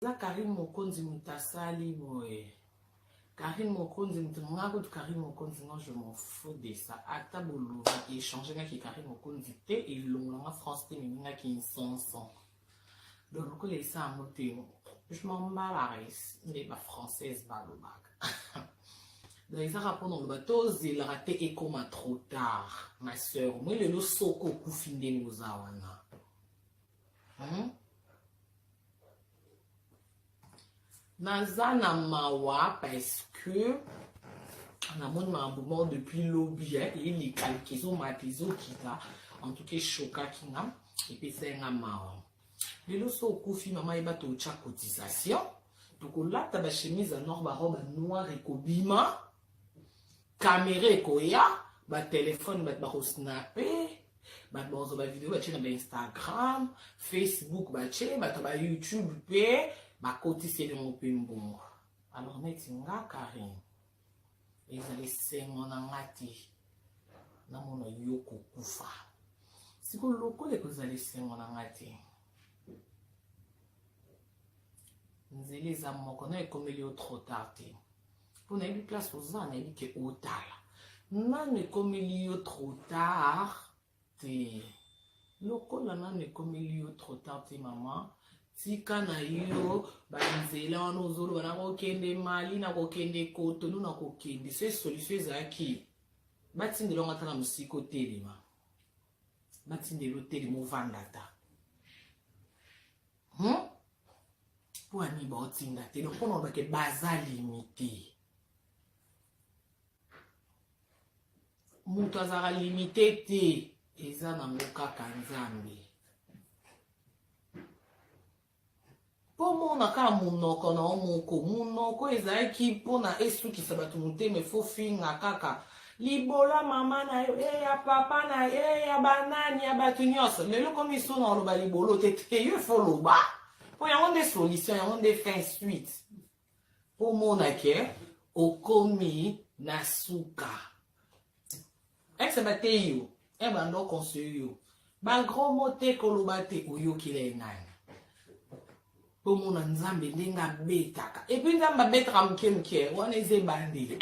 eza Karine Mokonzi moto asali boye Karine Mokonzi moto nga kutu Karine Mokonzi non je m'en fous de ça ata bolobi echange ngaki Karine Mokonzi te elongola nga France te mimi ngaki nsonson donc lokola esa yango te je m'en bats la race nde ba française balobaka donc ezaka mpona oloba tozelaka te ekoma trop tard ma sœur moi lelo soko okufi ndenge oza wana hmm? naza na mawa parce que namoni makambo moko depuis lobi eleka leka ezomata ezokita en tout cas eshokaki nga epesai nga mawa lelo so okufi mama yeba totya cotisation tokolata bachemise ya nor barobe noire ekobima kamera ekoya batelefone bato bakosnape bato bakozwa bavideo batye na bainstagram facebook batye bato ba youtube mpe bakotisi elongo mpe mbongo alors neti nga karine ezali esengo na nga te namona yo kokufa sikoyo lokola ekozala esengo na nga te nzela eza moko na ekomeli yo trop tard te mpo nayebi place oza nayebi ke otala nanu ekomeli yo trop tard te lokola nanu ekomeli yo trop tard te mama tika na yo banzela wana ozoloba nakokende mali nakokende kotonu nakokende se solution ezalaki batindela ngo ata na mosika otelema batindela otelema ovanda ata hmm? mpo ani baotinda te donc mpona olobake baza limite moto azalaka limite te eza nango kaka nzambe mpo mona kaka monoko na yo moko monoko ezalaki mpona esukisa bato motema efo finga kaka libola mama na yo e ya papa na yo e ya banani ya bato nyonso lelo komi so na oloba libolo te te yo efo loba mpo yango nde solution yango nde fin suite mpo omona ke okomi na suka exe bateyi yo e banda oconseille yo bagros mo te koloba te oyokila ye nani mpo omona nzambe ndenge abetaka epui nzambe abetaka moke moke wana eza ebandeli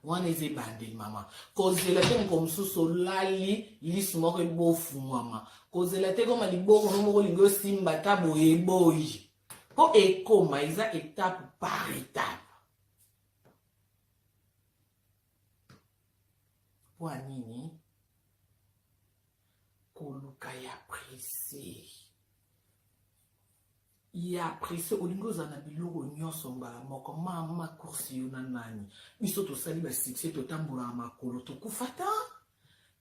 wana eza ebandeli mama kozela te moko mosusu olali lisu moko ebofungwama kozela te koma liboko no moko olingi osimba ata boye eboyi mpo ekoma eza etape par etape mpo ya nini koluka ya prese ya presse olingi ozala na biloko nyonso mbala moko mama kursi yo na nani biso tosali basuccès totambolaka makolo tokufata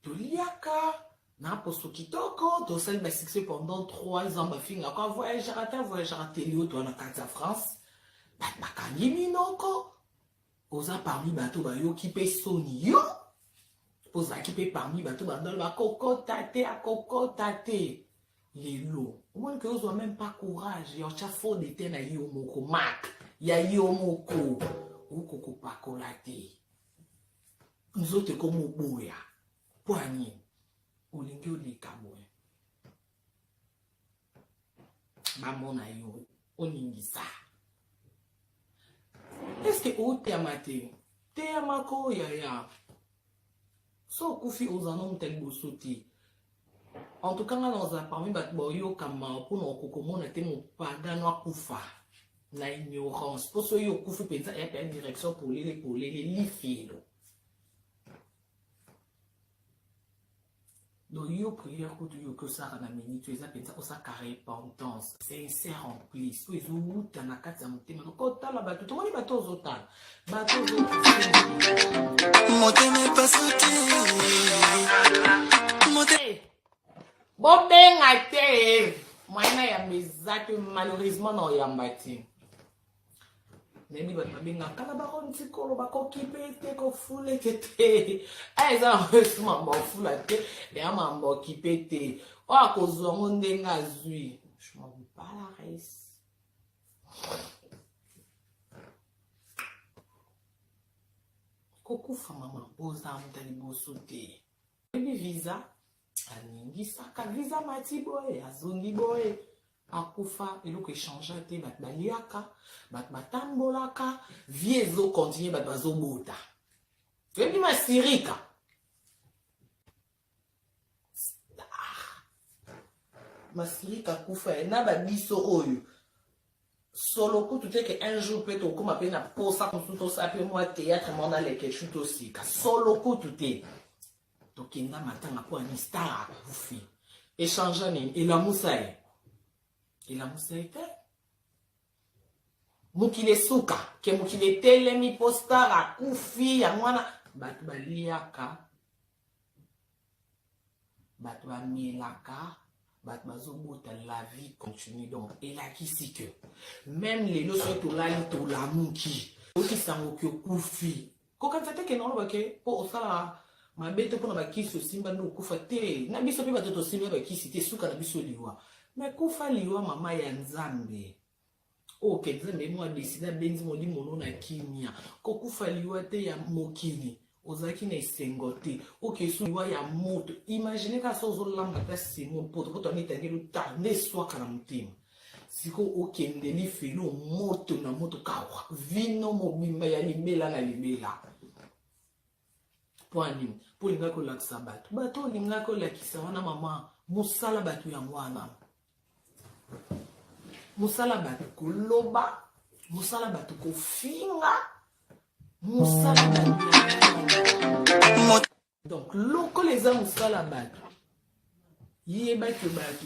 toliaka na poso kitoko tosali basuccès pendant 3 ans bafingaka avoyageaka te avoyageaka te lioto wana kati ya france bato bakangi minoko Oza parmi bato bayoki pe soni yo ozalaki pe parmi bato bandalo bakokota te akokota te lelo omoni ke ozwa meme pas courage ya otya faux de te na yo moko mak ya yo moko okokopakola te nzoto ekomi oboya mpo ya nini olingi oleka boye bamona yo oningisa eske oteyama te teyamaka oyaya so okufi oza no moto ya liboso te en tout cas nga naza parmi bato baoyokama mpona okokomona te mopagano akufa na ignorance mpo soki okufi mpenza eya mpe ya direction polele polele lifelo donc yo prière kutu yo oki osalaka na minute eza mpenza osalaka repentance sincère en plus oyo ezowuta na kati ya motema donc otala bato tomoni bato ozotala bato motema epasuti eh, bobenga te moyena yamba eza te malheureusement na oyamba te nayebi bato babengaka kala bakontikolo bakokipe te kofuleke te aya eza bakoyesu mambo afula te eya mambo okipe te oyo akozwa yango ndenge azwi bala race kokufa mama boza moto liboso te oyebi visa aningisaka visa mati boye azongi boye akufa eloko echangea te bato baliaka bato batambolaka vie ezo continue bato bazobota toyebi masirika masirika akufa ye na babiso oyo solo kutu te ke un jour mpe tokoma mpe na posa mosusu tosala mpe mwa théâtre mwana lekeshu tosika solo kutu te tokenda matanga mpo ani star akufi echangea nini elamusa ye elamusa ye te mokili esuka ke mokili etelemi mpo star akufi yango wana bato baliaka bato bamelaka bato bazobota la vie continue donc elakisi ke meme lelo soki tolali tolamuki okisango ke okufi Kokanisa te ke naloba ke po osala mabe te mpona bakisi osimba nde okufa te na biso mpe bato tosimba bakisi te suka na biso liwa me kufa liwa mama ya nzambe oyo oh, ke nzambe mwa deside abenzi molimo no na kimia kokufa liwa te ya mokili ozalaki na esengo te okesu liwa ya moto imagine kaka so ozolamba ta simo poto poto anitangeli ta nde eswaka na motema siko okende lifelo moto na moto kawa vino mobimba ya libela na libela mpo anini mpo olingaki kolakisa bato bato olingaki olakisa wana mama mosala bato yango wana mosala bato koloba mosala bato kofinga mosala bato donc lokola eza mosala bato yebaki bato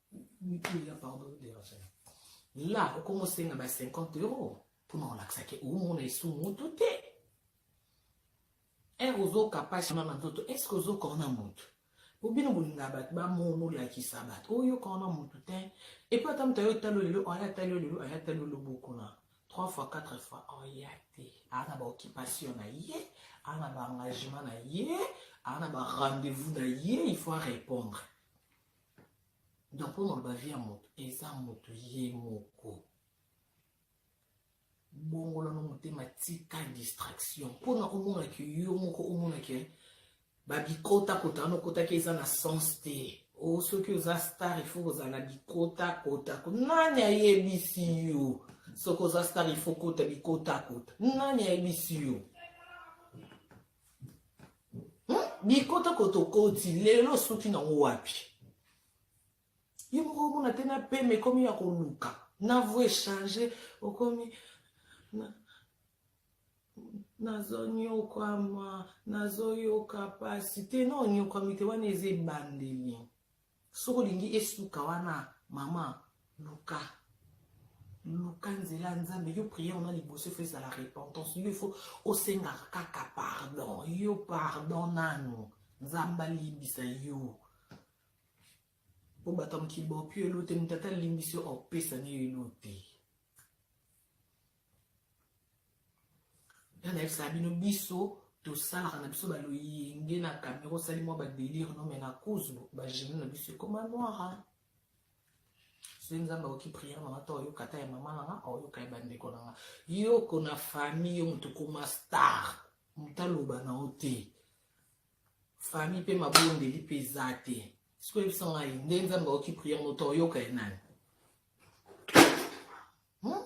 la okomi osenga ba 50 euro mpona olakisa ke omona esu moto te ere ozokapasha na nzoto eske ozokona moto po bino bolinga bato bamona olakisa bato oyokana na moto te epo ata moto ayo talo lelo aya talo lelo aya talo lobokona 3 fois 4 fois oya oh, te aa na baoccupation na ye aa na baengagement na ye aa na barendez-vous na ye il faut arépondre donc mpo maloba vie ya moto eza moto ye moko bongola no motema tika distraction mpo na omonaki yo moko omonaki eh, babikota kota wana okotaki eza na sens te o oh, soki oza star ifo kozala na bikota kota nani ayebisi yo soki oza star ifo kota bikota kota nani ayebisi yo bikota kotokoti lelo osuki nango wapi ye moko omona te na pema ekomi ya koluka na vo echange okomi nazonyokwama nazoyoka mpasi te na onyokwami te wana eza ebandeli soki olingi esuka wana mama luka luka nzela ya nzambe yo priere na liboso ifo ezala repentance yo ifo osengaka kaka pardon yo pardon nanu nzambe alimbisa yo mpo bato ya mokili baopio elo te moto ata alimbisi yo aopesa ne yo elo te ya nayebisaka bino biso tosalaka na biso baloyenge na kamera osali mwa badelire no me na cause bagene na biso ekoma noira soki nzambe akoki priere nanga to oyoka ata ya mama nanga aoyoka ya bandeko nanga yoko na famille yo moto okoma star moto aloba na yo te famille mpe mabondeli mpe eza te soki oyebisa ngai nde nzambe akoki priere moto oyoka ye nani Hmm?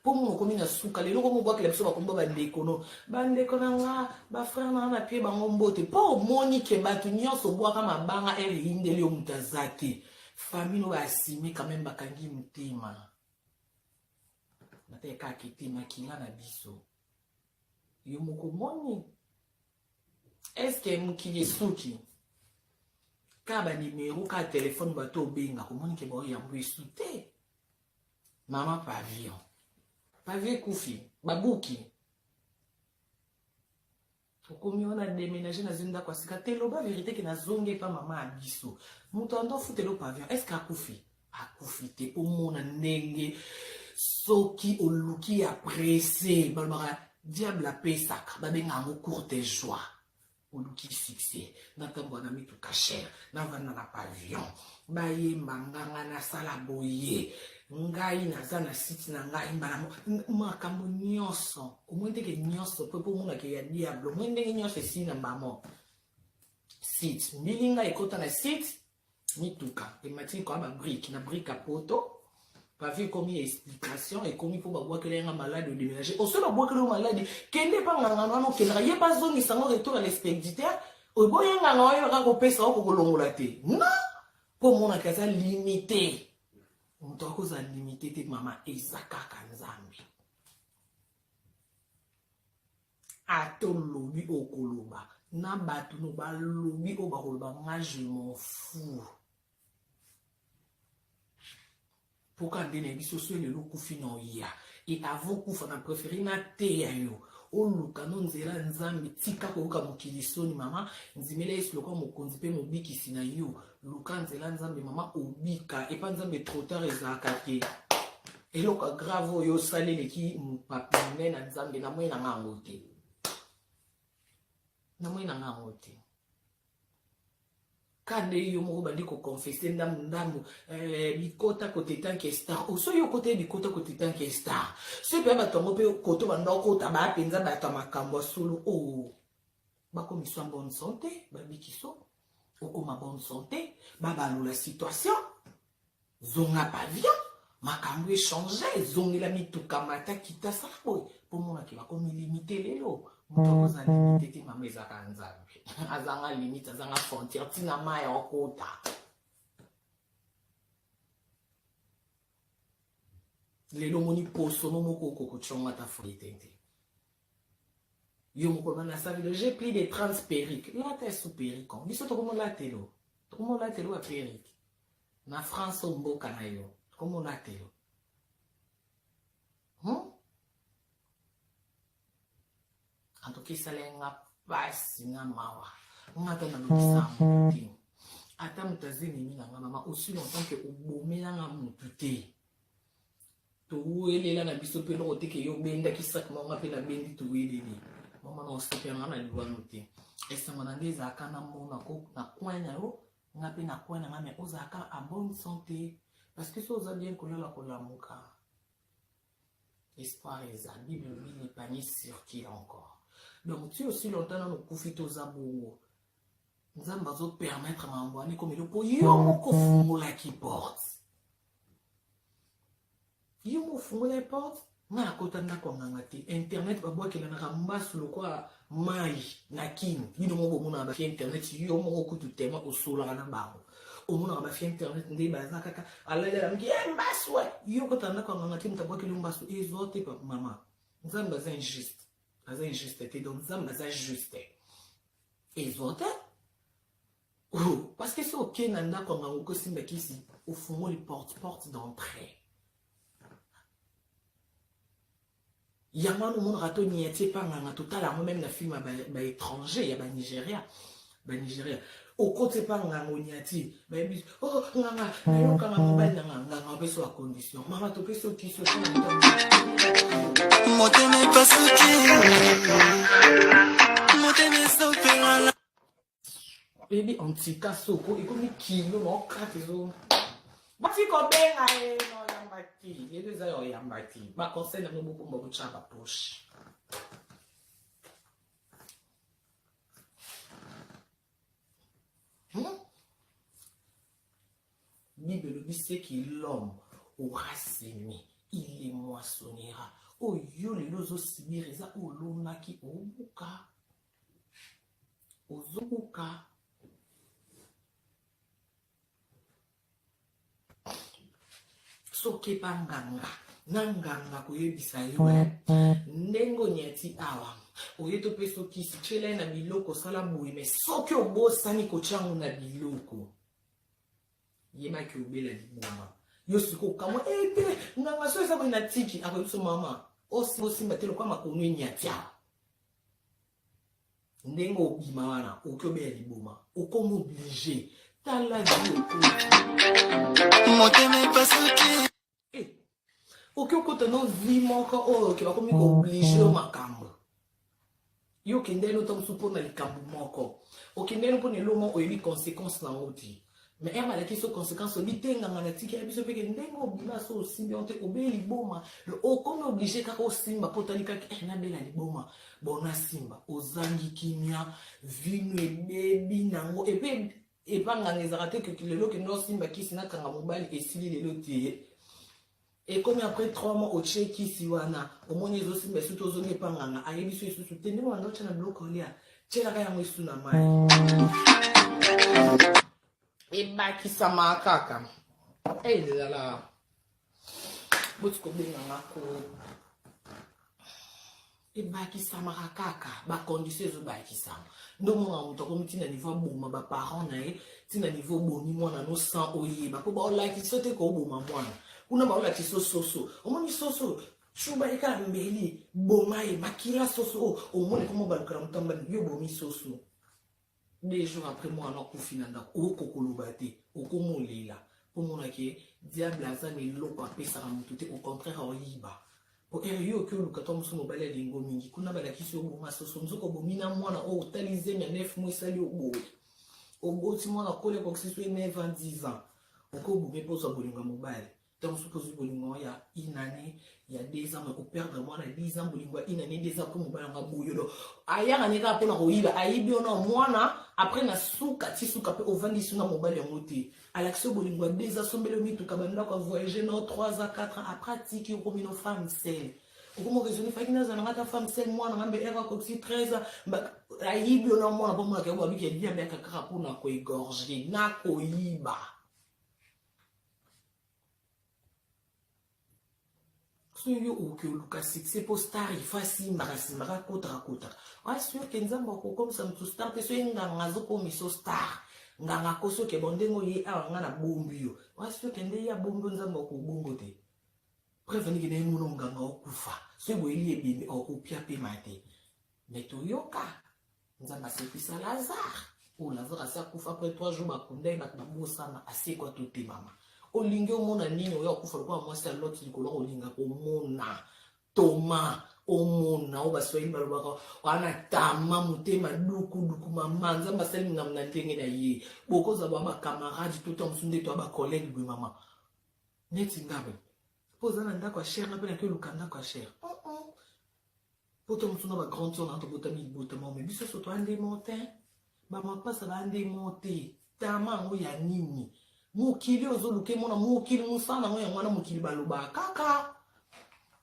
mpo munu okomi na suka lelo komi obwakela biso bakombo bandeko no bandeko na nga bafrere na nga na pie bango mbote mpo omoni ke bato nyonso obwaka mabanga ere eyindeli yo moto aza te famille oyo asime quand même bakangi motema natali kaka ete makila na biso yo moko omoni eske mokili esuki kaka banimero kaka telefone bato obenga komoni ke baoyambo esu te Maman Pavillon. Pavillon ekufi. Babuki. okomi wana deménage nazwi ndako ya sika te loba verité ke nazongi epa mama ya biso moto ando afutela pavion est ce que akufi akufi te mpo mona ndenge soki oluki ya presse balobaka diable apesaka babenga yango courte joie oluki succès natambola na mituka chere navanda na pavillon bayemba nganga nasala boye ngai naza na site na ngai mbala makambo nyonso omoi ndenge nyonso mpe mpo omonake ya diable omoi ndenge nyonso esili na mbala moko site mbilinga ekota na site mituka emati likolo ba brique na brique ya poto bavi ekomi ya explication ekomi mpo babwakela yanga maladi odeménage osoki babwakela yo maladi kende epa ngangana wana okendaka ye bazongisa yango retour ya l'expéditeur oboye nganga wana yebaka kopesa oko kolongola te non mpo omonaka aza limité moto akozala limité te mama eza kaka nzambe ata olobi okoloba na bato no balobi oyo bakoloba nga je m'en fous mpoka nde na biso so lelo okufi na oya e avant kufa na prefere nateya yo oluka no nzela nzambe tika koyoka mokili soni mama ndimela yesu lokola mokonzi mpe mobikisi na yo luka nzela nzambe mama obika epa nzambe trotar ezalaka te eloko grave oyo osali eleki mopapi monene na nzambe na moi na nga yango te na moi na nga yango te kande yo moko bandi koconfese ndambu ndambu eh, bikota kotetanke star osoki yo kota ye bikota kotetanke star soki mpe bato yango mpe koto banda okota baa mpenza bato ya makambo ya solo o oh. bakomiswa bonne sante babikiso okoma bonne sante babalula situation zonga pavillon makambo echange ezongela mituka mata kita sala boye mpo monake bakomi limite lelo moto akoza limite te mama ezaka nzambe azanga limite azanga frontière ntina mai okota lelo omoni posono moko okokotyongo ata foye te te yo moko na nasali le j'ai pris des 30 perruques lata ya sous perruque biso tokomolatelo tokomolatelo ba perruque na France o mboka na yo tokomolatelo hmm? en tout cas esala nga pasi na mawa nga ata nalobisa yango te ata moto azelemi na nga mama osi longtemps ke obomelanga motu te towelela na biso mpe eloko teke yo obendaki saki mama mpe nabendi toweleli mama na osepela nga na liwano te esengo na nde ezalaka na mona ko na coin na yo nga mpe na coin na nga me ozalaka a bonne santé parce que so oza bien kolala kolamuka espoir eza bible lobi le panier circule encore donc ti osi longtemps nano okufi te oza bongo nzambe azopermettre mambo wana ekomeli mpo yo moko ofungolaki porte yo mo ofungolaki porte nga nakota ndako ya nganga te internet babwakelanaka mbasu lokola mai na kini bino moko bomonaka bafi internet yo moko kutu tema osolaka na bango omonaka bafi internet nde baza kaka alalalamki e mbasu e yo kota ndako ya nganga te moto abwakeli yo mbasu ezo te mama nzambe aza injuste aza injuste te donc nzambe aza juste ezo te Oh, parce que soki okei na ndako ya ngango kosimba kisi ofungoli porte porte d'entrée yango wana omonaka to niati epanganga totala yango meme na filme ya baétranger ya banigeria banigeria okoti epa nganga oniati bayebi oh nganga nayokanga mobali na nganga nganga opesi wa condition mama topesi okiso motema epasuki motema esopelala oyebi antika soko ekomi kilo na okate ezo basi kobenga ye na oyamba ti yebi eza ya oyamba ti baconseil yango bokomba botya baposhe hmm? bible elobi seki l'homme aura semé il le moissonnera oyo lelo ozosibir eza olonaki obuka ozokoka soki banganga na nganga koyebisa yo eh, ndenge onyati awa oye topesa okisi tyela ye na biloko osala boye me soki obosani kotya yango na biloko yebaki obela liboma yo sikoyo okamwa ete eh, nganga so eza boye na tiki akoyebisa mama osimba te lokola makonu enyati awa ndenge obima wana okoki obeya liboma okomi oblige tala motema epasuki eh, okoki okota no vi moko oyo oke bakomi kooblige yo makambo yo okendeli ota mosusu mpo na likambo moko okendeli mpo na eloo moko oyebi conséquence na yango te me eme alaki so conséquence obi te nganga na tiki ya biso mpe ke ndenge obima so osimbi yango te obeli liboma okomi oblige kaka osimba mpo otali kaka eh, nabela liboma bona simba ozangi kimia vino ebebi nango epe epa nganga ezalaka te lelo kende osimba kisi nakanga mobali esili lelo te Ekomi après 3 mois otie kisi wana omoni ezosimba esutu ozongi epa nganga ayebisi esusu te ndenge wanda otya na biloko olia tyelaka yango esu na mai ebakisama kaka elala eh, boti kobenganga ko ebakisamaka kaka bacondition ezobakisama nde omona moto akomi ntina niveau aboma baparent na ye ntina niveau obomi mwana no sans oyeba mpo baolakisi so te kooboma mwana kuna baolakisi so soso omoni soso shuba ye kaka mbeli boma ye makila soso oyo omoni komo balukela moto ambani yo obomi soso Deux jours après muana akufi na ndako oko koloba te okomo lela po mona ke diable aza na eloko apesaka moto te au contraire aoyiba po ere yo oki oluka to mosu mobali alingo mingi kuna balakisi yo bonga soso nzoka obomi na mwana oyo otali zemi ya nef mo esali oboye oboti mwana kole kokisi so ye 9 ans 10 ans okobomi mpo ozwa bolingo ya mobali ntango soki ozwi bolingo yango ya une année ya deux ans ekoperdre mwana ya dix ans bolingo ya une année deux ans mpo mobali yango aboyolo ayaka ne kaka mpo na koyiba ayibi ona mwana apres na suka ti suka mpe ovandisi na mobali yango te alakisi yo bolingo ya deux ans sombeli yo mituka bandako ya voyage no trois ans quatre ans apres atiki okomi no femme sele okomoka ezoni faki naza nanga ata femme sele mwana ngambe ere akokisi treize ans ayibi ona mwana mpo mwana kayobo abiki ya liambe akakaka mpo na koegorge na koyiba soki yo okoki oluka succès mpo star ifa asimbaka simbaka akotaka kotaka asioke nzambe akokomisa moto star mpe soki nganga azokomiso star nganga akosoke bo ndenge oye awa nga na bombi yo asioke nde ye abombi nzambe akobongo te preuve niki na ye mono nganga okufa soki boyeli ebembe okopia mpe mate me toyoka nzambe asekwisa lazare oyo oh, lazare asi akufa apres trois jours bakunda ye bato babosana asekwa totemama olingi omona nini oya okufa lokola mwasi ya loti likolo kolinga komona toma omona oyo baswahili balobaka wana tama motema dukuduku mama nzambe asali mingambo na ndenge na ye bokozala ba bacamarade to ntango mosusu nde to ya bacollege boye mama neti ngabe po oza na ndako ya cher nga mpe nake oluka ndako ya cher oh, oh. po to mosu na ba grande sor na tobotami libotama ome biso so toandemo te bamapasa baandemo te tama yango ya nini mokili oyo ozoluka emona mokili mosala yango yango wana mokili balobaka kaka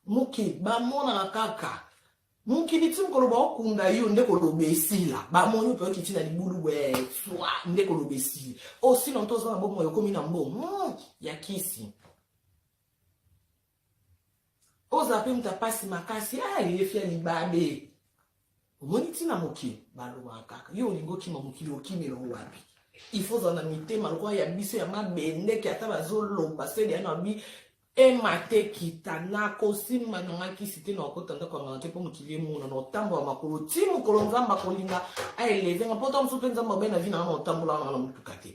mokili bamonaka kaka mokili ti mokolo baokunda yo nde koloba esila bamoni mpe okiti na libulu bwe swa nde koloba esili osila nto oza na bomoi okomi na mbo hmm, ya kisi ozala mpe moto ya mpasi makasi ah, yefi ya libabe omoni ntina mokili balobaka kaka yo olingi okima mokili okimela wapi ifo ozala na mitema lokola ya biso ya mabendeke ata bazoloba seli ya nabi emate kita nakosimba na ngai kisi te nakokota ndako ya ngana te mpo mokili emona na otambola makolo ti mokolo nzambe akolinga aeleve nga mpo ta mosusu mpe nzambe abai na vi na nga na otambola nga na motuka te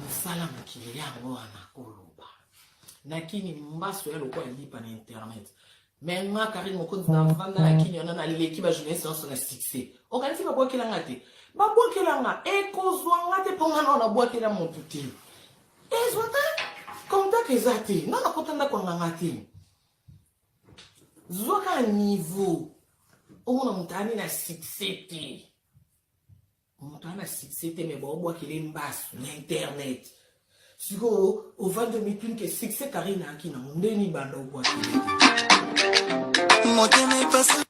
mosala mokili yango wana koloba na kini mbaso ya lokola lipa na internet me nga karine mokonzi na vanda na kini wana naleki bajournaliste nyonso na succès okanisi babwakela nga te babwakela nga ekozwa nga te mpo nga nao nabwakela motu te ezwa te contact eza te nga nakota ndako anganga te zwaka niveau omona moto ani na succès te moto ana succès te me baobwakele mbasu na internet sikoyo ovandi omituni ke succès karine ayaki nango nde nibanda obwakele motema epasi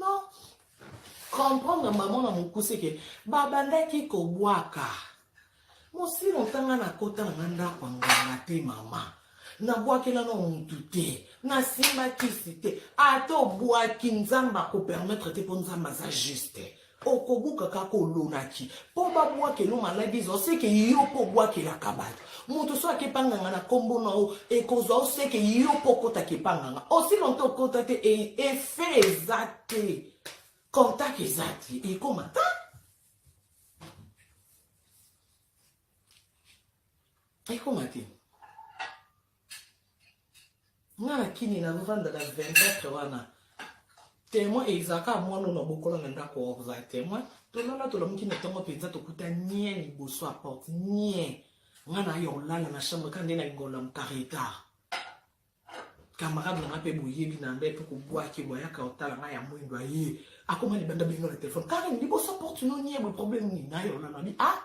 non comprendre mama na mokuse ke babandaki kobwaka Mosimo otanga na kota na nga ndako ya nganga te mama nabwakela na mutu te nasimba kisi te ata obwaki nzambe akopermetre te mpo nzambe aza juste okobuka kaka olonaki mpo babwakela maladi eza oseke yo mpo obwakelaka bato moto so akepa nganga na nkombo na yo ekozwa oseke yo mpo okota kepa nganga osi lonto okota te e, efe eza te contact eza te ekoma ta ekoma te nga na kini nazofanda na 24 wana témoin ezalaka mwana na bokola na ndako oza témoin tolala tolamuki na ntongo mpenza tokuta nie liboso ya porte nie nga na yo olala na chambre ka nde na lingola mokare etard camarade na nga mpe boyebi na nda epe kobwaki boyaka otala ngai ya mwindo aye akoma libanda bino na telefone karen liboso porte no nie boye problème nini naye onanabi a ah!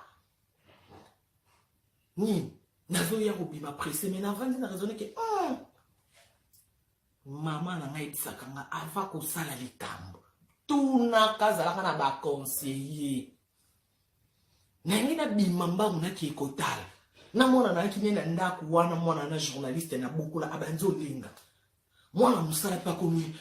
nini nazoya kobima presse mai navandi na raisonne ke hmm! mama na ngai ebisaka nga ava kosala likambo tunaka azalaka na baconseiller nayangi nabima mbangu nakei kotala na mwana nayaki ne na ndako wana mwana na journaliste na bokola abanzi olinga mwana mosala mpe akomi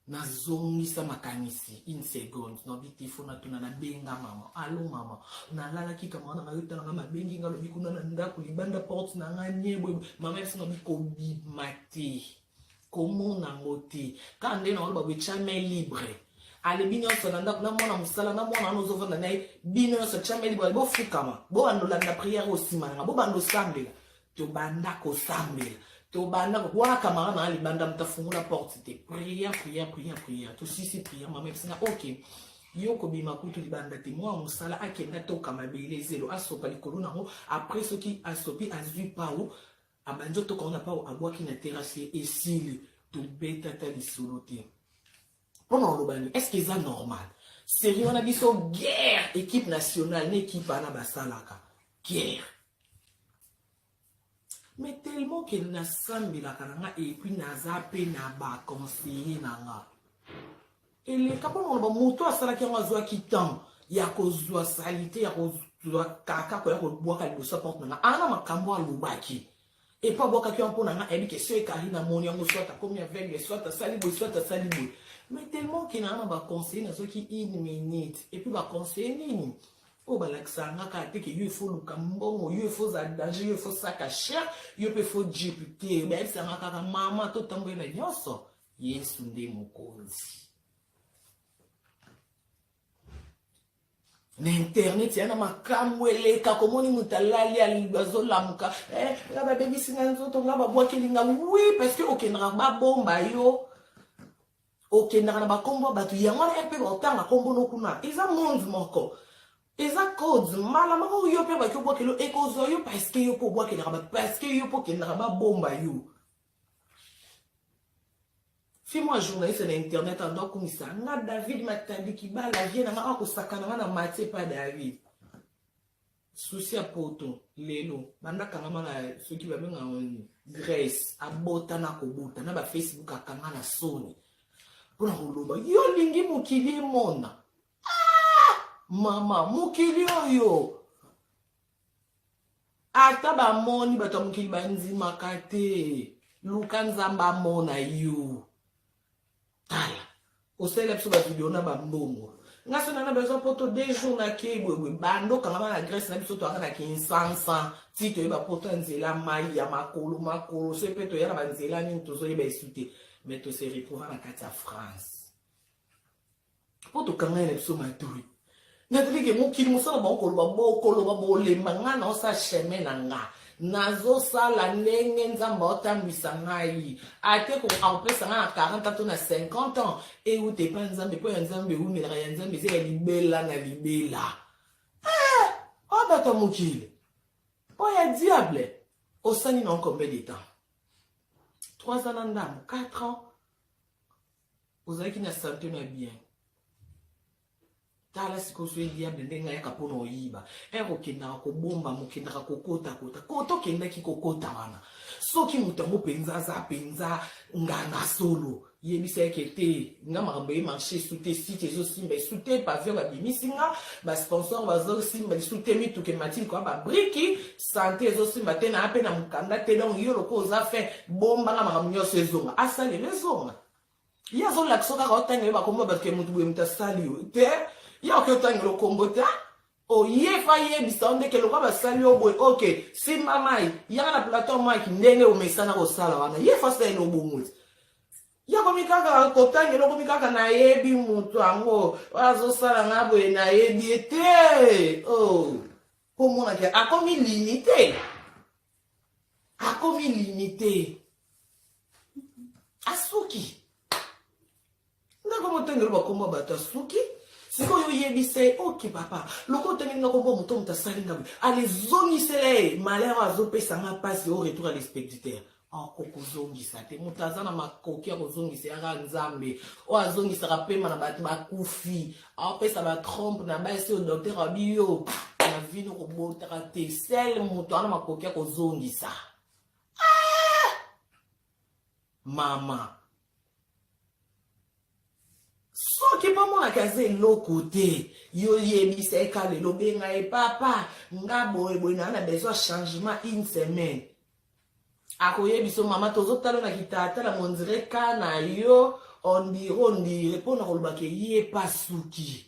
nazongisa makanisi une seconde nabi te fo natuna nabenga mama alo mama nalalaki ka mwana nayo talanga mabengi nga lobi kuna na ndako libanda porte na nga nyeboye mama yasi nabi kobima te komona ngo te kaka nde na oloba boecame libre alebi nyonso na ndako na mwana mosala na mwana wana ozovanda na ye bino nyonso came libre ale bofukama bobanda olanda priere oyo nsima nanga bobanda osambela tobanda kosambela tobanda wana kamara na libanda moto afungola porte te priere priere priere priere tosisi priere mama episina ok yo kobima kutu libanda te mwa mosala akenda toka mabele zelo asopa likolo nango apres soki asopi azwi pau Abanzi otoka wana pao abwaki na terrasse ye esili tobeta ata lisolo te mpo na oloba nini estce eza normal serie wana biso guerre équipe nationale na équipe wana basalaka guerre mais tellement ke nasambelaka na nga epuis naza mpe na baconseiller na nga eleka mpo na koloba moto oyo asalaki yango azwaki temps ya kozwa salite ya kozwa kaka koya kobwaka liboso ya porte na nga ana makambo alobaki epo abwakaki yango mpo na nga ayebi ke soki ekari na moni yango soit akomi aveugle soit asali boye soit asali boye mais tellement ke naa na baconseille nazwaki une minute epuis baconseille nini oyo balakisaka nga kaka te ke yo efo luka mbongo yo efo za danger yo efo saka cher yo mpe efo jipe te bayebisaka nga kaka mama totamboli na nyonso Yesu nde mokonzi. na internet ya na makambo eleka komoni moto alali azolamuka eh, nga babebisi nga nzoto nga babwakeli nga wi parce que okendaka babomba yo okendaka na bakombo ya bato yango wana mpe baotanga kombo no kuna eza monde moko eza code mbala moko yo mpe baki obwakelo ekozwa yo parceke yo mpe obwakelaka bato parceke yo mpe okendaka babomba yo fille moko ya journaliste na internet ando akumisa nga david matadi kibala vie na nga akosakana nga na matie pa david susi ya poto lelo banda akangama na soki babenga oni grace abota na kobota na bafacebook akanga na soni mpo na koloba yo olingi mokili emona ah! mama mokili oyo ata bamoni bato ya mokili bandimaka te luka nzambe amona yo tala osalela biso bavideo na bambongo nga so nana bezo poto de jour nakei boyeboye bando kangama na grèce na biso toyaka na kinsansa ti toyeba poto ya nzela mai ya makolo makolo so mpe toya na banzela nini tozoyeba esu te mais tose retrouva na kati ya france mpo tokangani na biso matoi natalike mokili mosala bango koloba bokoloba bolemba nga naosa chemin na nga nazosala ndenge nzambe aotambwisa ngai ate kopesa ngai na 40 ans to na 50 ans euta epa nzambe mpo ya nzambe eumelaka ya nzambe eza ya libela na libela eh, o oh, bato ya mokili mpo ya diable osali na combien de temps 3 ans na ndambo 4 ans ozalaki na sante na bien tala sikoyo soki diable ndenge ayaka mpo na oyiba ere okendaka kobomba mokendaka kokotakota kota okendaki kokota wana soki moto yango mpenza aza mpenza nganga solo yebisa yeke te nga makambo eye marché esu te site ezosimba esu te pavio babimisi nga basponsor bazosimba lisu te mituka ematili koya babriki sante ezosimba te naa mpe na mokanda te donc yo lokola oza fin bombanga makambo nyonso ezonga asalela ezonga ye azolakisa kaka otangele bakombo bato ke motu boye moto asali yo te ye oke otangela okombo te oyefa yebisa yo ndeke lokola basali yo boye oke simba mai yaka na plateau maki ndenge omesana kosala wana ye fasi na ye nobongoli yakomi kaka kotangela okomi kaka nayebi motu yango azosala nga boye nayebi ye te oh. komona ke akomi limite akomi limite asuki ndako motengelo bakombo ya bato asuki sikoyo oyebisa ye oke papa lokola otangeli nga kombo moto moto asali nga boye alezongisela ye malheur azopesa nga mpasi o retour ya lespectateur akoki ah, kozongisa te moto aza na makoki ya kozongisa yaka nzambe oyo azongisaka mpema na bato bakufi aopesa ah, batrompe na basi oyo dokter abi yo na vino kobotaka te sel moto ana makoki ya kozongisa ah! mama soki bamonaki aza eloko te yo yebisa ye ka lelo benga ye papa nga boye boye naa na besoin changement une semaine akoye biso mama tozotala na kitalatala mondire ka na yo ondire ondire mpo na koloba ke ye pa suki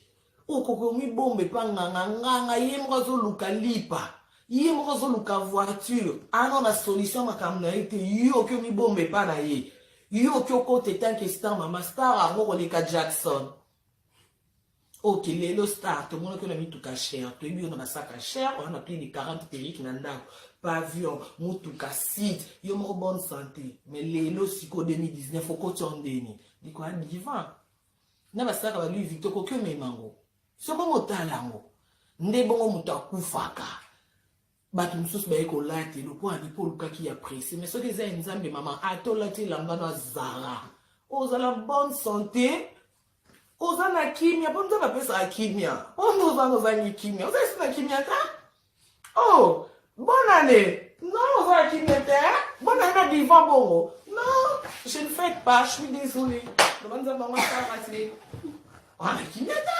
okoki omibomba epa nganga nganga ye moko azoluka lipa ye moko azoluka voiture ano na solution makambo na ye te yo oki omibomba epa na ye yo oki okota etanke star mama star yango koleka jackson ok lelo star tomonaki yo na mituka cher toyebi yo na basaka cher oza na plus de 40 perike na ndako pavion motuka site yo moko bonne santé mais lelo sikoyo 2019 okoti yo ndeni likoya divan na basaka ba louis victor okoki omema yango soko motala yango nde bongo moto akufaka Batu mususu baye kolate lokola ni po olukaki ya presse mais soki eza ya nzambe mama ata olati elamba na zara ozala bonne santé oza na kimia mpo nzambe apesaka kimia mpo nde ozanga ozangi kimia oza esi na kimia ta o oh, bonane non oza na kimia te bonane na divan bongo non je ne fais pas je suis désolé loba nzambe yango asalaka te wana kimia ta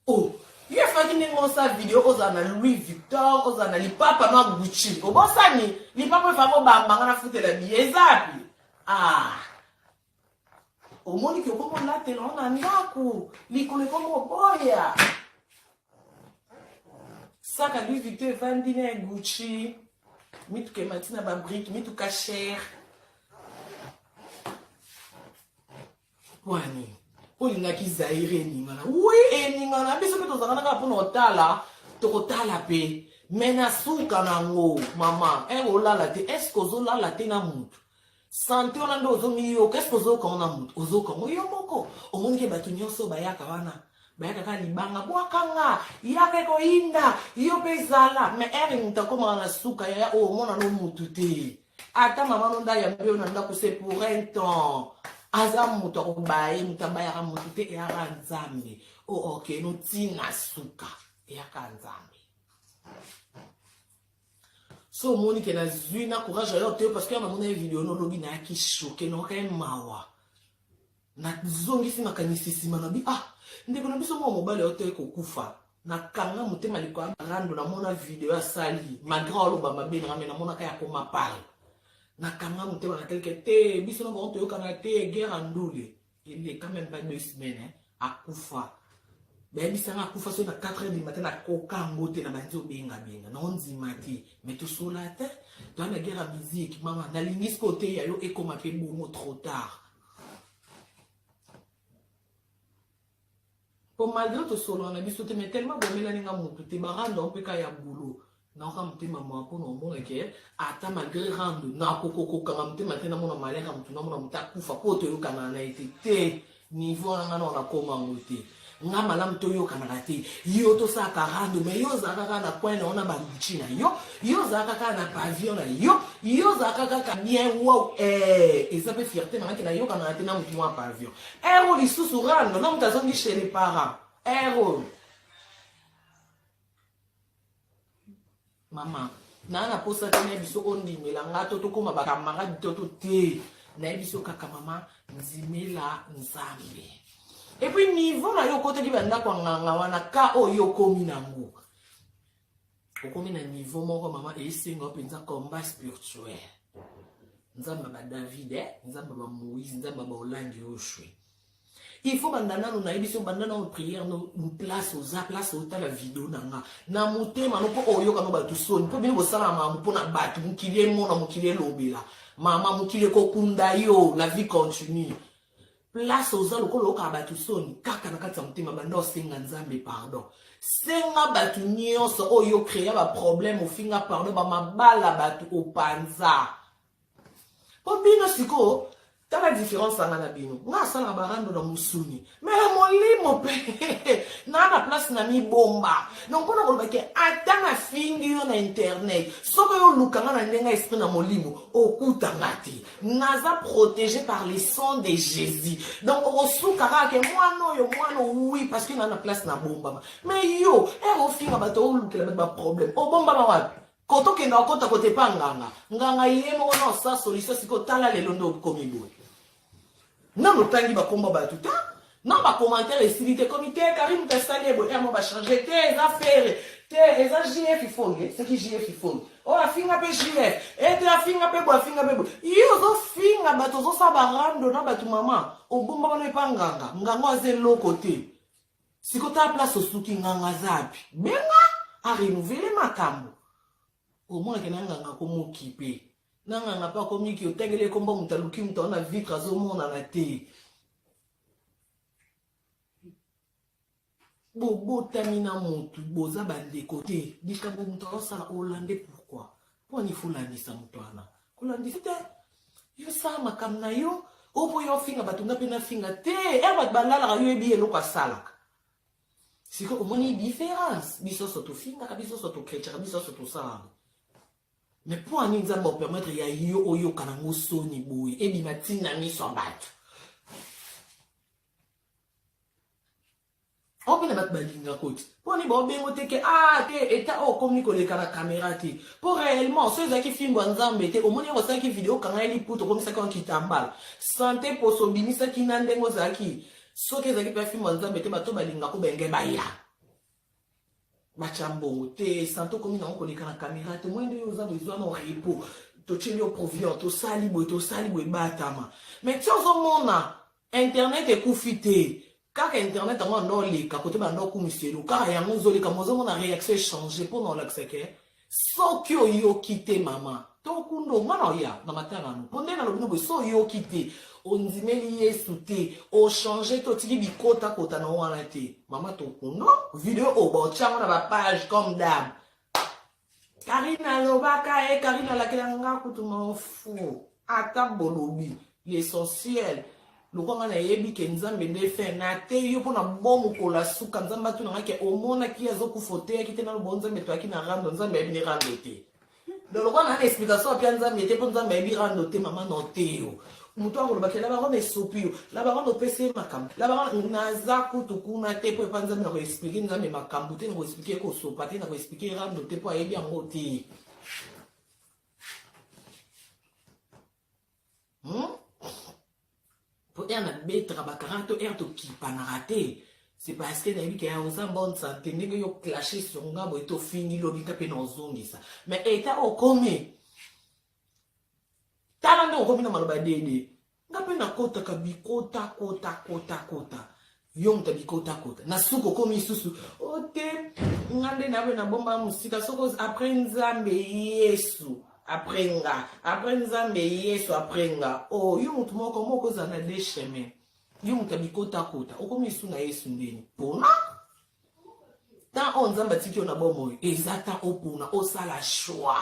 Oh ye faki ndenge osa video ozala na louis victor ozala na lipapa ma gucci obosani lipapa efaki obamba nga nafutela biye ezapi ah omoni ke okomi olatela ngo na ndako likolo ekomi oboya saka louis victor efandi na gucci mituka emati na babrike mituka chere Pourquoi nini? Olingaki Zaire eningana? Oui, eningana. Biso mpe tozalaka kaka mpona otala, tokotala mpe. Mais na suka nango, mama, eh, olala te. Est-ce que ozolala te na mutu? Sante wana nde ozomiyoka, est-ce que ozoyoka ngo na mutu? Ozoyoka ngo yo moko. Omoni ke bato nyonso bayaka wana. bayaka kaka libanga bwaka nga yaka ekoyinda yo mpe zala me ere moto akomaka na suka yaya oyo omona no motu te ata mama no ndaya mpe yo na ndako se pour un temps aza moto akobaya ye moto abayaka moto te eyaka nzambe o oh, oke no ntina suka eyaka nzambe so omoni ke nazwi na courage ayo te parce que ya namona ye video nolobi nayaki shoke naoka ye mawa nazongisi makanisi nsima na bi ah ndeko na biso moko mobali oyo toye kokufa nakanga motema likolo ya rando namona video asali malgre aloba mabe nanga me namonaka ya koma pale nakanga motema na teleke te biso na bango toyokana te guerre andule eleka meme pas deux semaines hein, akufa bayebisanga akufa soki na 4 heures du matin nakoka yango te na banzi obengabenga na ondima te me tosola te toya na guerre ya musique mama nalingi sikoyo te ya yo ekoma mpe bongo trop tard po malgré tosolola na biso te mais tellement bomelani nga motu te barando mpe ka ya bulo naoka motema mawa mpo na omona ke ata malgré rando nakokokokanga motema te namona malere ya motu namona motu akufa mpo toyokanaa na ye te te niveau wana nga nao nakoma yango te nga malamu toyokanaka te yo tosalaka rando me yo ozalaka kaka na coin na yo na baluci na yo yo ozalaka kaka na pavillon na yo yo ozalaka kaka bien wow eh, eza mpe fierté nangaki nayokanaka te na motu mwa pavillon ero eh, lisusu rando na moto azongi chez les parents ero eh, Mama, naa na posa te na biso ondimela nga to tokoma ba camarade to to te. Na biso kaka mama ndimela Nzambe. Et puis niveau na yo okotaki ba ndako nganga wana ka oyo okomi nango. Okomi na niveau moko mama esenga penza combat spirituel. Nzambe ba David, eh? Nzambe ba Moïse, Nzambe ba Olangi Oshwe. Il faut banda nanu na yebiso banda na prière no place oza place otala video na nga na motema no po oyoka no bato soni po bino bosala mamu po na bato mokili emona mokili elobela mama mokili ekokunda yo la vie continue place oza lokola oyokaka bato soni kaka na kati ya motema banda osenga nzambe pardon senga bato nyonso oyo okrea baproblème ofinga pardon bamabala bato opanza po bino sikoyo tala différence anga na bino nga asalaka barando na mosuni me ya molimo mpe naa na place na mibomba donc mpona koloba ke ata nafingi yo na internet soko yo oluka nga na ndenge ya esprit na molimo okuta nga te naza protégé par le sang de jésus donc okosuka kaka ke mwana oyo mwana oui parce que naa na place na bombama me yo ere eh, ofinga bato olukela bato baproblème obombama wapi Ko to kenda okota kote pa nganga. Nganga ye moko na osa solution siko tala lelo ndo komi boye. Na motangi ba kombo ba tuta. Na ba commentaire esili te komi te Karim Kasale bo emo ba changer te eza ferre te eza JF Ifonge c'est qui JF Ifonge. Oh afinga pe JF et eh, afinga pe bo afinga pe bo. Yo zo finga bato zo sa ba rando na bato maman. Obomba bana epa nganga. Nganga aze loko te. Siko ta place osuki nganga aza api? Benga a renouveler makambo. Omona ke na nganga ko mokipe. Na nganga pa komi ki otangeli ekomba moto aluki moto aona vitre azomonana te. bobotami na motu boza bandeko te likambo moto aosala olande pourkui Mpo nini folandisa moto wana? Kolandisa te. Yo sala makambo na yo, o mpo yo ofinga bato nga mpe nafinga te. E bato balalaka yo yebi eloko asalaka. Sikoyo omoni diference? Biso nyonso tofingaka, biso nyonso tokretchaka, biso nyonso tosalaka. Me mpo ani nzambe apermetre ya yo oyoka nango soni boye ebima ntina miso ya bato ope na bato balinga koti mpo nini baobengo te ke ah te eta oyo okomi koleka na kamera te mpo réellement so ezalaki fimbo ya nzambe te omoni yango osalaki video okanga ye liputa okomisaki yango kitambala sante poso obimisaki na ndenge ozalaki soki ezalaki mpe fimbo ya nzambe te bato balingako benge baya matya mbongo te santo okomi nango koleka na kamera te moyende oyo oza bezwa na repo totyeli yo proviant tosali boye tosali boye batama mai ti ozomona internet ekufi te kaka internet yango anda oleka kote banda okumiselo kaka yango ozoleka mo ozomona réaction echange mpo na olakisake soki oyoki te mama to kundo omwana oya na matanga no mpo nde nalobi no boye so oyoki te ondimeli yesu te ochange te otiki bikotakota na wana te mama tokundo video oyo baotyango na bapage comme dame karine alobaka e eh, karine alakela nga kutu maofu ata bolobi l'essentiel lokola nga nayebi ke nzambe nde fin nateyi yo mpo na bomu kola suka nzambe atuna nga ke omonaki ye azokufa oteyaki te nalobo nzambe toyaki na rando nzambe ayebi ni rando te donc lokola naa na explication apia nzambe te mpo nzambe ayebi rando te mama na oteyo moto yango olobaki labarone esopi yo labarone opesi ye makambo labarone naza kutu kuna te mpo epa nzambe na koexplike nzambe makambo te na koexplike kosopa te na koexplike rando te mpo ayebi yango te hmm? po ere nabetaka bakaraka to ere tokipanaka te c'est parce que nayebi kaya oza bonne santé ndenge yo clashe sur nga boye tofingi lobi nga mpe na ozongisa mais eta okomi tala nde okomi na maloba dede Nga pe na kotaka bikota kota kota kota. Yo moto bikota kota. Na suka okomi susu. Ote oh, nga nde na be na bomba musika soko après Nzambe Yesu. Après nga, après Nzambe Yesu après nga. Oh, yo moto moko moko za na deux chemins. Yo moto bikota kota. Okomi su na Yesu ndeni. Pona? ntango oyo nzambe atiki yo na bomoi eza ntango opona osala shwa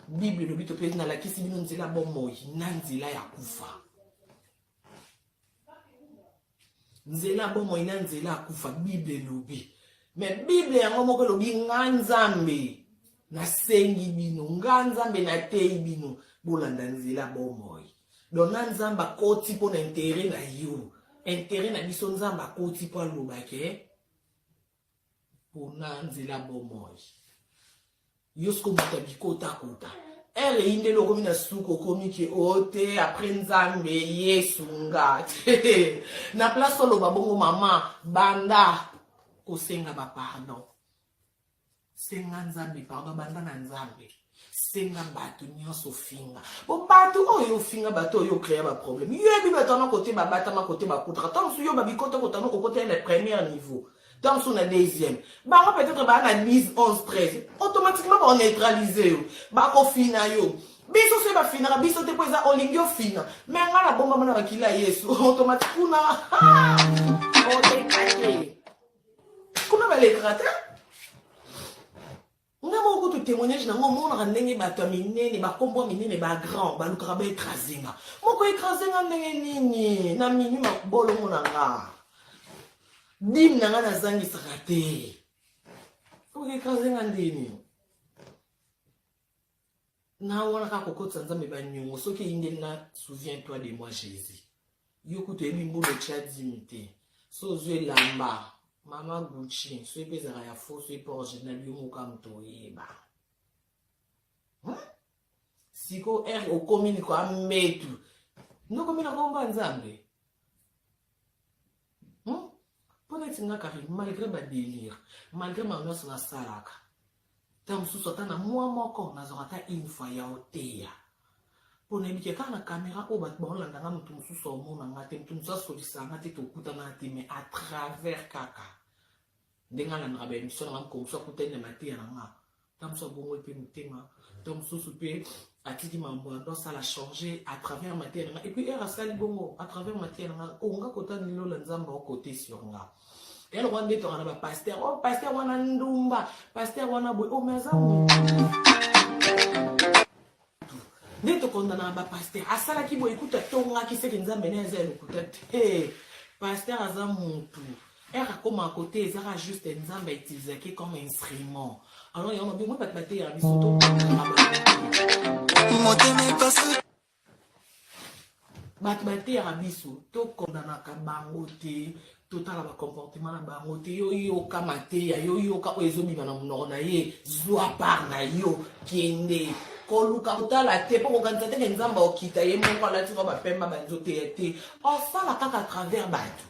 bible elobi to mpe nalakisi bino nzela bomoi na nzela ya kufa nzela bomoi na nzela ya kufa bible elobi me bible yango moko elobi nga nzambe nasengi bino nga nzambe nateyi bino bolanda nzela bomoi donc na nzambe akoti mpo na intere na yo intere na biso nzambe akoti mpo aloba ke mpona nzela bomoi yo soki obuta bikotakota ere eyi ndele okomi na suka okomi ke o oh, te apres nzambe yesu nga na place oloba bongo mama banda kosenga bapardon senga nzambe pardon banda na nzambe senga bato nyonso ofinga po bato oyo ofinga bato oyo okrea baproblème yo yebi bato wana kote babatama kote bakutaka ntango mosusu yo babikota kotana kokota ye na premier niveau ntango mosusu na deuxième bango peut-être baa na 10 11 13 automatiquement baoneutralise yo bakofina yo biso soki bafinaka biso te mpo eza olingi ofina me ngai nabombama na bakili ya yesu automatique kuna otekate kuna balekaka te nga moko kutu témoignage nango omonaka ndenge bato ya minene bakombo ya minene bagrand balukaka baekrase nga moko ekrase nga ndenge nini na minui mabolongo na nga dime na nga nazangisaka te okekrase nga ndeni na wana kaka kokotisa nzambe banyongo soki eyindeli na souviens toi de moi jésus yo kutu oyebi mbula otya dimi te so ozwi elamba mama gucci soki mpe ezalaka ya fo soki mpe original yo moka moto oyeba hmm? siko r okomi niko ametu ndokomi na komba nzambe hmm? mpo neti nga karine malgré badelire malgré makambo nyonso nasalaka ntango mosusu ata na mwa moko nazwaka ata une fois ya oteya mpo nayebi ke kaka na kamera oyo bato baolanda nga moto mosusu aomona nga te moto mosusu asolisa nga te tokutana te mais à travers kaka ndenge alandaka ba emission nanga mokolo mosusu akutani na mateya na nga ntango mosusu abongoli mpe motema ntango mosusu mpe atiki mambo na ntango asala change à travers mateya na nga epuis heure asali bongo à travers mateya na nga onga kota nilola nzambe okote sur nga ya lokola nde tokana ba paster o oh, paster wana ndumba paster wana boye omeaza oh, nde tokondana na bapaster asalaki boye kutu atongaki seke nzambe na eza ya lokuta te paster aza mutu ere akoma kote ezaka juste nzambe autilisaki comme instrument alors yango bimwe bato bateya biso to motema epasi bato bateyaka biso tokondamaka bango te totala bacomportement na bango te yo yoka mateya yo yoka oyo ezobima na monoko na ye zwa par na yo kende koluka kotala te mpo kokanisa teke nzambe okita ye moko alati kaka bapemba banzoteya te osala kaka travers bato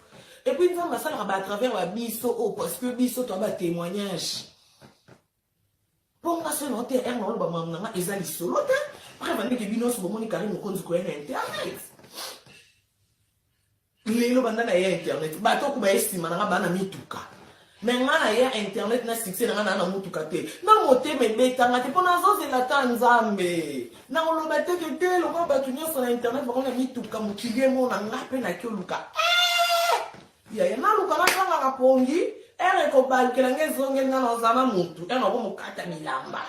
epuis nzambe asalaka ba travers ba biso oyo oh, parce que biso toa batémoignage Bonga solo na TR na oloba mamu na nga eza lisolo te. Après bande ke bino so bomoni Karim Mokonzi koya na internet. Lelo banda na ya internet. Bato kuba esima na nga bana mituka. me nga na ya internet na succès na nga naa na motuka te na motema ebetanga te mpo nazozela ata nzambe na koloba teke te lokola bato nyonso na internet bakona mituka mokili emona nga mpe naki oluka Yaya naluka nazangaka pongi ere ekobalukela nga ezongeli nga naza na mutu ere nako mokata bilamba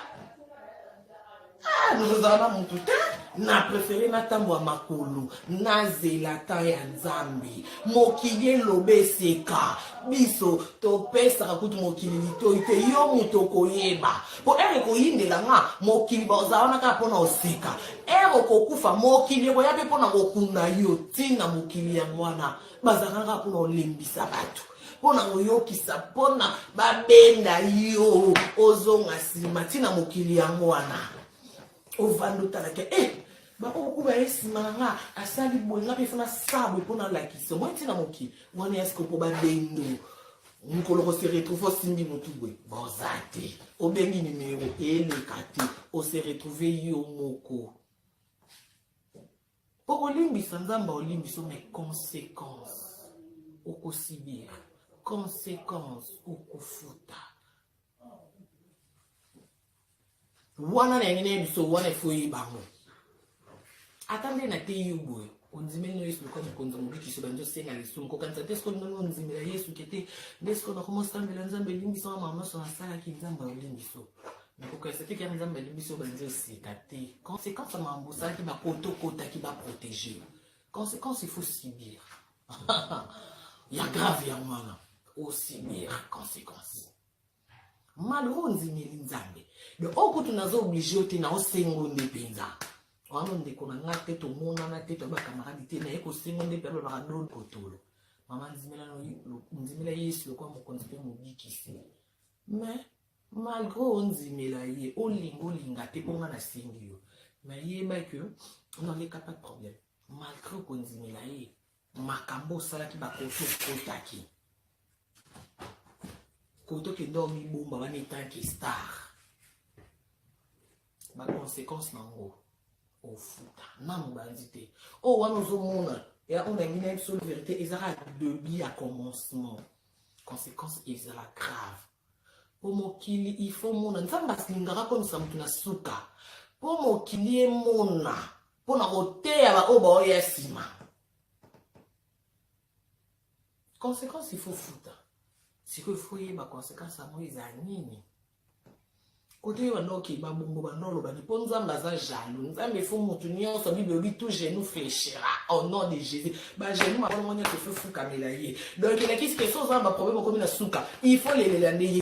ah, naza na mutu te na prefere natambwa makolo nazela tan ya nzambe mokili eloba eseka biso topesaka kutu mokili litoi te yo moto okoyeba mpo ere ekoyindela nga mokili bazala wana kaka mpo na oseka ere okokufa mokili ekoya mpe mpo na kokunda yo ntina mokili yango wana bazalaka kaka mpona olembisa bato mpona koyokisa mpona babenda yo ozonga nsima ntina mokili yango wana ovanda otalaka e eh, bakokuba ye nsima na nga asali boye nga mpe fona sa boye mpo nalakisa omoi ntina mokili wana ya sikopo babendo mokolo kose retrouve osimbi motu boye boza te obengi nimero eleka te ose retrouve yo moko Okolimbisa Nzambe aolimbisa mais consequence okosibir consequence okofuta wana na yangi nayebi so wana ifo oyebango ata nde nateyi yo boye ondimeli no yesu lokola mokonzi ya mobikisi obandi osenga lisumu kokanisa te soki ndenge ondimela yesu ke te nde soki nakoma osambela nzambe elimbisa wa mama nyonso nasalaki nzambe aolimbiso okokesaki kaka nzambe ali biso banzi osika te conséquence ya makambo osalaki bakota okotaki baprotege conséquence il faut subir ya grave ya mwana osubir conséquence malo oyo ondimeli nzambe de okutu naza oblige yo te na osengo nde mpenza wana ndeko na ngai te tomonana te toya bakamaradi te naye kosengo nde mpe alobaka dolo kotolo mama ndimela yesu lokola mokonzi mpe mobikisi mais malgré ondimela ye olinga olinga te mpo nga nasengi yo mais yeba ke noleka pas de problème malgré okondimela ye makambo osalaki bakoto okotaki koto okenda omibomba wana etanke star baconséquence na yango ofuta na mobanzi te oyo oh, wana ozomona ya oyo nangi na biso verité ezaka debut ya commencement consequence ezala grave po mokili il faut mona nzambe asilingaka komisa motu na suka po mokili emona mpo na koteya baoyo baoya nsima consequence ifo futa sikoyo ifo yeba consequence yango eza nini kote yo banda okeba bongo banda olobaki mpo nzambe aza jaloux nzambe efo motu nyonso bible elobi tout genou fléchira au nom de jésus bagenou makolongo nyonso efo efukamela ye donc elakisi ke so ozala baproblème okomi na suka il faut lelela nde ye